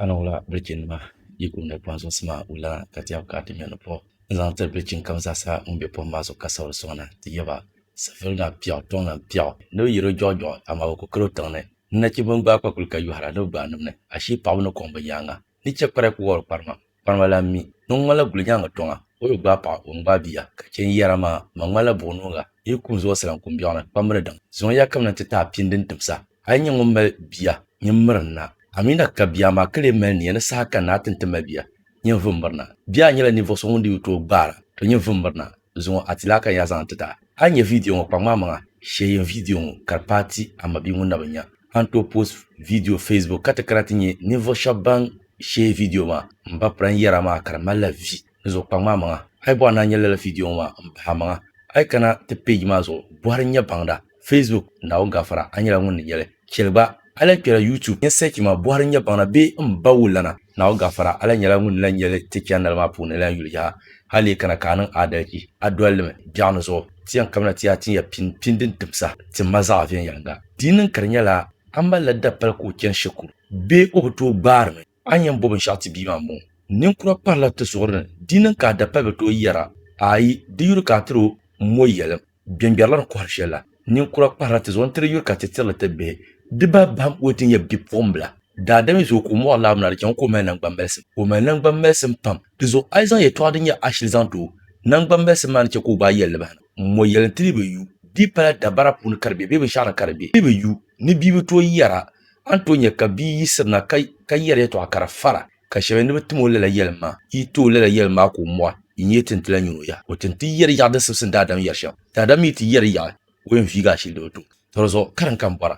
Ana wula bilichinima yi gumdi pɔhim zuŋsi maa wulana ka ti yab ka ti ŋmɛr ni pɔh n-zaŋ tiri bilichin kam zaasa ŋun be pɔhim maa zuɣu ka sabiri sɔŋ na. Ti yab a, safir ŋa piɛɣu, tɔŋ lan piɛɣu, ni bɛ yir o jɔɣijɔɣi, amaa bɛ ku kal o tiŋ ni. Ni nachimba n-gbaai kpakuli ka yɔhira ni bɛ gbaai nim ni, ashee paɣiba ni kɔŋ bɛ nyaaŋa, ni chɛ kpara ku wɔbiri kparimam. Kpani ma lan mi ni ŋun ŋmanila gulinyaŋ tɔŋa, o bi gbaai paɣa, o ni gbaai bia. Ka chɛ n yɛra maa, ma ŋmanila buɣinoŋga, n yi kuhi n zuɣu sira n ku biɛɣuni, kpam mi ni daŋ. Zuŋɔ ya ka bɛ ni ti taai pini din timsa. A yi nyɛ ŋun mali bia, nyin miri n na. A mi na ka bia maa ka lee mali nia ni saha ka n na ti ni ti mali bia, nyin vum miri na. Bia nyɛla ninvuɣ so ŋun di yi tooi gbaara, to nyin vum miri na. Zuŋɔ a ti lahi ka nya zaŋ ti ta. A ni nya vidiyo ŋɔ kpaŋ maa maŋa shee yin vidiyo ŋɔ ka di paai ti a mabia ŋun na bi nya. A ni tooi post vidiyo Facebook ka ti kana ti nya ninvuɣ shɛb ban shee vidiyo maa. M ba Pran yɛra maa ka di malila vi ni zuɣu kpaŋ maa maŋa. A yi bɔɣi ni a nya lala vidiyo ŋɔ maa m bahi amaŋa a yi kana ti page maa zuɣu bɔhiri n-nyɛ baŋda. Facebook, Naawuni Gafara, a nyɛla ŋun ni yɛli, Chɛli gba, a lahi kpɛla YouTube, nyɛ search maa, Bɔhiri nyɛ baŋ na bee m ba wulana, Naawuni Gafara, a lahi nyɛla ŋun ni lahi yɛli ti chɛndali maa puuni lan yuli yaha, hal leei kana ka a niŋ aadalichi, a doli li mi, biɛɣu ni zuɣu, ti yɛn kabina ti yaa tin ya pini, pini din tim saha, ti ma zaɣ viɛnyɛliŋga. Di niŋ ka di nyɛla a mali la dapali ka o chani shikuru, bee o bi tooi gbaari mi, a ni yɛn bo binshɛɣu ti bia maa m-bɔŋɔ. Ninkura kparila ti zuɣuri ni, di niŋ ka a dapali bi tooi yɛra, Aai, di yuri ka a tiri o m mo yɛlim. Gbɛngbɛrila ni kɔhiri shɛli la, ninkura kpahirila ti zuɣu n-tiri yuri ka ti tirili ti bihi. Di ba bahim o ti nyɛ bipuɣimbila. Daadam yi zo ka o mɔɣu laɣim na, di chaŋ o ka o mali naŋgbambalisim. O mali naŋgbambalisim pam. Di zuɣu a yi zaŋ yɛtɔɣa din nyɛ ashili zaŋ ti o, naŋgbambalisim maa ni chɛ ka o gbaai yɛlli bahina. Mɔ yɛli nti dii bi yu. Di pala dabara puuni ka di be bee binshɛɣu ni ka di be. Di bi yu. Ni bia bi tooi yɛra, a ni tooi nya ka bia yiɣisirina ka yɛri yɛtɔɣa ka di fara. Ka shɛba yɛli ni bɛ tim o lala yɛlim maa, Yi ti o lala yɛlim maa ka o mɔhi, yi nyɛ ti ni ti lahi nyin o yaha. O ti ni ti yɛri yaɣi din simsim daadam yɛri shɛm. Daadam mi ti yɛri yaɣi o yɛn viigi ashili di bi tum. Tɔ di zuɣu karim ka n bɔra,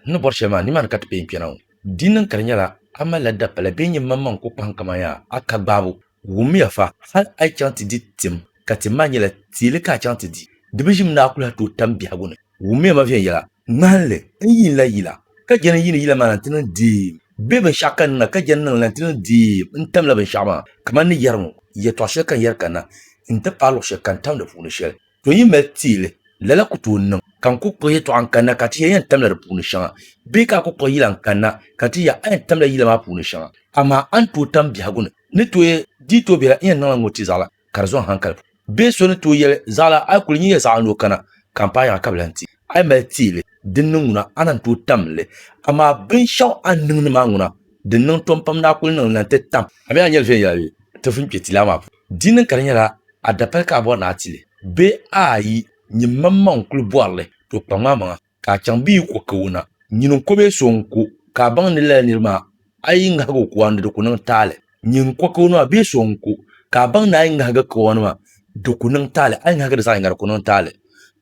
n ni bɔri shɛli maa, nimaani ka ti pee n-kpɛna ŋɔ. Di niŋ ka di nyɛla a malila dapala bee n-nyɛ maŋmaŋ n-ku kpahim kaman yaa a ka gbaabu. Wummiya fa, hal a yi chaŋ ti di tim, ka tim maa nyɛla teele ka a chaŋ ti di, di bi ʒim ni a kuli ha tooi tam biɛhigu ni. Wummiya ma viɛnyɛla ŋmahinli n yiin la yila, ka jɛn n yiini yila maa la nti niŋ deem, bee binshiɛɣu ka n niŋ la ka jɛn n niŋ la nti niŋ deem n tamla binshiɛɣu maa, kaman ni yɛri ŋɔ, Yɛtɔɣ shɛli ka n yɛri kanna nti paai luɣ shɛli ka n tam di puuni shɛli, to yi mali teei li, lala ku tooi niŋ. Ka n ku kpuɣi yɛtɔɣa n-kanna ka ti ya yɛn tamla di puuni shɛŋa, bee ka a ku kpuɣi yila n-kanna ka ti ya a yɛn tamla yila maa puuni shɛŋa, amaa a ni tooi tam biɛhigu ni ni tooi dii tooi biɛla n yɛn niŋla ŋ-ŋɔ ti zaɣila ka di zɔŋ hankali puuni. Bee so ni tooi yɛli, Zaɣila, a yi kuli nyin ya zaɣa ni o kana, ka m paai yaŋa ka bi lan ti. A yi mali teei li, dinni ŋuna, a na ni tooi tam li. Amaa binshɛɣu a ni niŋdi maa ŋuna, di niŋ tom pam ni a kuli niŋ li na nti tam. A mi a ni yɛli viɛnyɛla bee? Ti vun kpe tilaa maa puuni. Di niŋ ka di nyɛla a dapali ka a bɔri ni a ti li, bee a yi nyin maŋmaŋ n-kuli bɔri li, to kpaŋm a maŋa. Ka a chaŋ bɛ yi ku ka o na, nyin n-ko bee so n-ko, ka a baŋ ni lala nir maa a yi ŋahig o kawana di ku niŋ taali? Nyin n-ko ka o na bee so n-ko, ka a baŋ ni a yi ŋahig kawana maa di ku niŋ taali? A yi ŋahigi di zaɣ yiŋga di ku niŋ taali.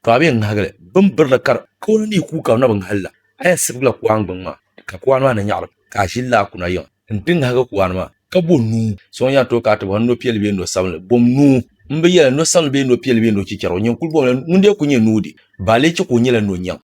Tɔ! A bee ŋahigi li, bɛ ni biri li kar kawana ni yi ku ka bɛ na bi ŋahi li la, a yɛn sibigila kuan gbiŋ maa, ka kuan maa ni nyaɣirim, ka a ʒi laa kuna yiŋ n-ti ŋahigi kuan maa, ka bo nuu. So n-yɛn tooi ka a ti bɔhiri ni nɔ piɛlli bee nɔ sabinli, bom nuu. M bi yɛli ni nɔ sabinli bee nɔ piɛlli bee nɔ chichɛrigu, nyin kul bomla ŋun dee ku nyɛ nuu de, ba a lee chɛ ka o nyɛla nɔ nyaŋ.